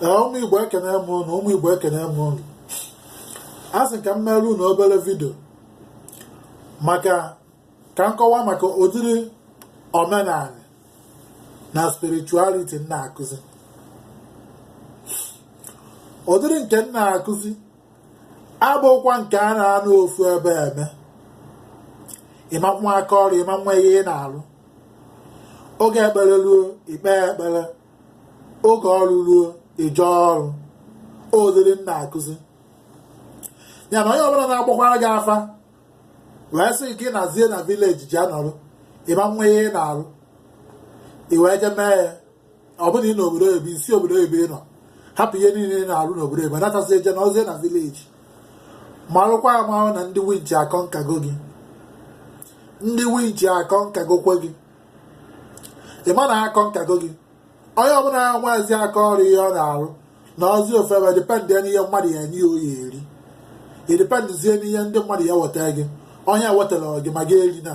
ụmụ igbo ekene m ụnụ ụmụ igbo ekene m ụnụ a sị ka m merụ ụnụ obere video maka ka m kọwa maka ụdịrị omenanị na spirituality m na-akụzi ụdịrị nke m na-akụzi abụkwa nke a na-anọ ofu ebe eme ịma nwe aka ọrụ ịma nwe ihe ị na-arụ oge ekpere ruo i kpee ekpere oge ọrụ ruo i jee ọrụ ụdịrị m na-akụzi ya na onye ọbụla na-agbakwara gị afa wee sị gị nazie na village je nọrụ ịma nwe ihe ị na-arụ i wee je mee ya ọ bụrụ na ị nọ obodo oyibo i si obodo oyibo ị nọ hapụ ihe niile ị na-arụ n'obodo oyibo natazie je nọzie na village marụkwa amarụ na ndị winchi akọ nke gị okwe gị ndị winchi akọ nke gị okwe gị ị ma na akọ nke gị okwe gị onye ọbụla nwezi aka ọrụ ihe ọ na-arụ nọzie ofu ebe depend n'ihe mmadụ ya-enye ọ ya-eri i dependzie n'ihe ndị mmadụ ya-eweta gị onye wetara gị ma gị eri na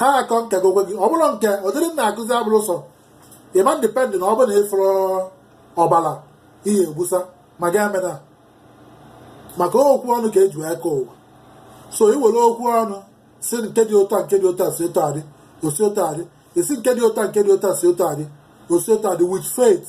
ha akọ nke gị okwe gị ọ bụrọ nke ụdịrị m na-akụzi abụrọ sọ ịma depend na ọ bụ na ị fụrụ ọbara ihe e gbusa ma gị emena maka okwu ọnụ ka e ji wee kee ụwa so i were okwu ọnụ sị nke dị otu a nke dị otu a si otu a dị o si otu a dị ị sị nke dị otu a nke dị otu a si otu a dị o si otu a dị with faith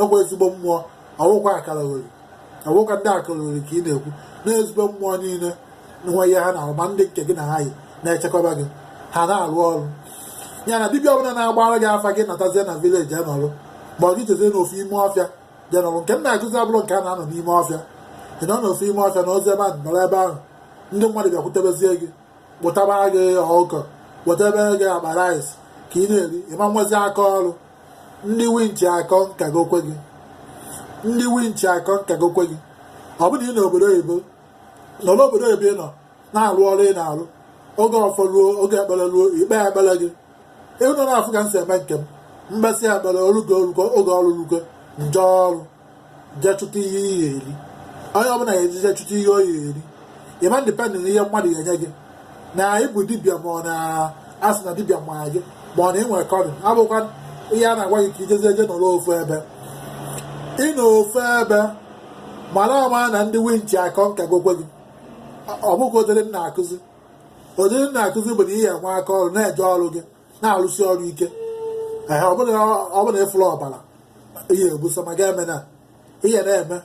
enwe ezigbo mmụọ ọ wụkwa akaliogoli ọ wụkwa ndị akaliogoli ka ị na-ekwu na ezigbo mmụọ niile nwe ihe ha na-arụ ma ndị nke gị na ha yi na-echekọba gị ha na-arụ ọrụ ya na dibịa ọbụla na-agbara gị afa gị natazie na village nọrụ ma ọ gị jezie n'ofu ime ọfịa je nọrụ nke m na-akụzi abụrọ nke a na-anọ n'ime ọfịa ị nọ n'ofu ime ọfịa nọzie ebe a nọrọ ebe ahụ ndị mmadụ bịakwutebezie gị kpụtaba gị ọkụkọ wetebe gị akpa rice ka ị na-eri ịma nwezi aka ọrụ ndị winchi akọ nke gị okwe gị ndị winchi akọ nke gị okwe gị ọ bụrụ na ị nọ obodo oyibo nọ n'obodo oyibo ị nọ na-arụ ọrụ ị na-arụ oge ọfọ ruo oge ekpere ruo i kpee ekpere gị ụnụ na-afụ ka m si eme nke m m kpesịa ekpere orugo oge ọrụ rugo m je ọrụ jee chụta ihe ị ya-eri onye ọbụla ya-eje je chụta ihe ọ ya-eri ịma depend na ihe mmadụ ya-enye gị na ịbụ dibịa ma ọ na a sị na dibịa ma gị ma ọ na ị nwere calling abụkwa ihe a na-agwa gị ka i jezie je nọrọ ofu ebe ị nọ ofu ebe mara ama na ndị winchi akọ nke gị okwe gị ọ bụkwa ụdịrị m na-akụzi ụdịrị m na-akụzi bụ na ị ya-enwe aka ọrụ na-eje ọrụ gị na-arụsi ọrụ ike ee ọ bụrụ na ị fụrụ ọbara ihe egbusa ma ga-eme na ihe na-eme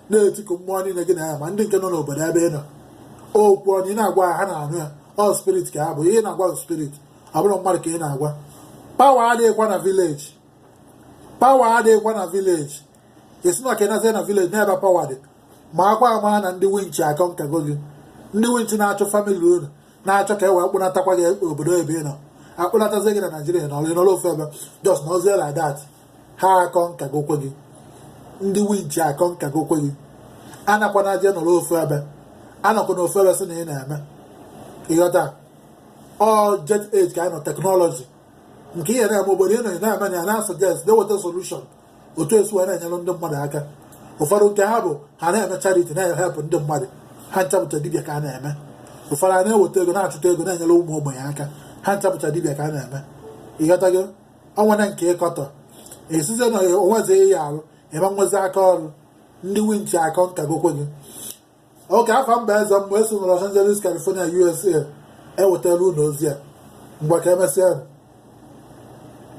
na-etiku mmụọ niile gị na ya ma ndị nke nọ n'obodo ebe ị nọ okwu ọnụ ị na-agwa ha ha na-anụ ya ọ spirit ka ha bụ ihe ị na-agwa bụ spirit ọ bụrọ mmadụ ka ị na-agwa power adịghịkwa na village power adịghịkwa na village ị sị na ọ ka ị nazie na village n'ebe power dị makwa amara na ndị winchi akọnkago gị ndị winchi na-achọ family unu na-achọ ka e wee kpụnatakwa gị obodo ebe ị nọ akpụnatazie gị na naijiria nọlụ n'ụlọ ofu ebe just nọzie like that ha akọnkagokwa gị ndị winchi akọnkagokwa gị anakwana je nọrọ ofu ebe anọkwana ofu ebe sị na ị na-eme ị ghọta ọ jet age ka anyị nọ technology nke ihe na-eme obodo ị nọ ị na-eme na ya na-asuggest na-eweta solution otu e si wee na-enyere ndị mmadụ aka ụfọdụ nke ha bụ ha na-eme charity na-ehelp ndị mmadụ ha ncha bụcha dibịa ka a na-eme ụfọdụ a na-eweta ego na-achụta ego na-enyere ụmụ ogbenye aka ha ncha bụcha dibịa ka a na-eme ị ghọtago o nwere nke ị kọtọ e sizie na o nwezi ihe arụ ị ma nwezi aka ọrụ ndị winchi akọnkagokwa gị Okeafọ Mba eze mmụọ si na Los Angeles California USA ewetara unu ozi a mgbe ka e mesịa